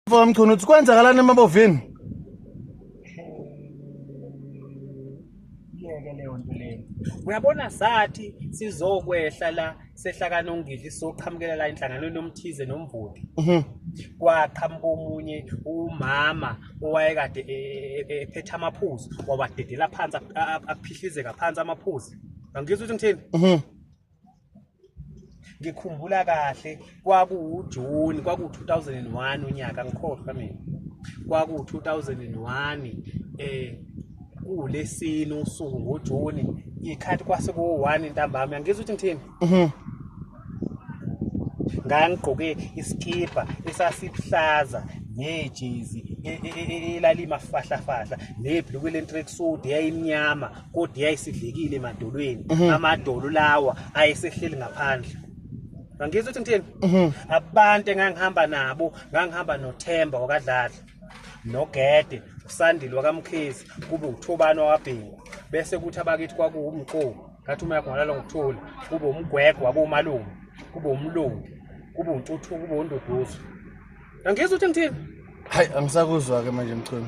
Mfoka Mchunu uthi kwenzakalani emabovini? Yeke leyo nto leyo. Uyabona sathi sizokwehla la sehlakana ongidli soqhamukela la inhlanganweni yomthize nomvoti. Mhm. Kwaqhamuka omunye umama owayekade e- e- e- ephethe amaphuzu wawadedela phansi ap- ap- aphihlizeka phansi amaphuzu. Angizwa ukuthi ngithini? Mhm. ngikhumbula kahle kwakuwujuni kwakuwu-2001 unyaka ngikhohlwa mina kwakuwu-2001 eh kuwulesine usuku ngojuni ikhathi kwase kuwu-one intambama yangizwa ukuthi ngithini mhm. ngangigqoke isikibha esasibuhlaza nejezi e, e, e, elalima fahlafahla nebhluku lentrek sude yayimnyama kodwa yayisidlekile emadolweni mhm. amadolo lawa ayesehleli ngaphandle ngangizwa ukuthi ngithini mhm. abantu engangihamba nabo ngangihamba nothemba wakadladla nogede usandile wakamkhizi kube uthobani wakabhingu bese kuthi abakithi kwakuwumqobo ngathi uma yakho ngalalo ngithula kube umgwegwe wakumalume kube umlungu kube untuthuku kube unduduzo angizwa ukuthi ngithini hayi angisakuzwa-ke manje mchunu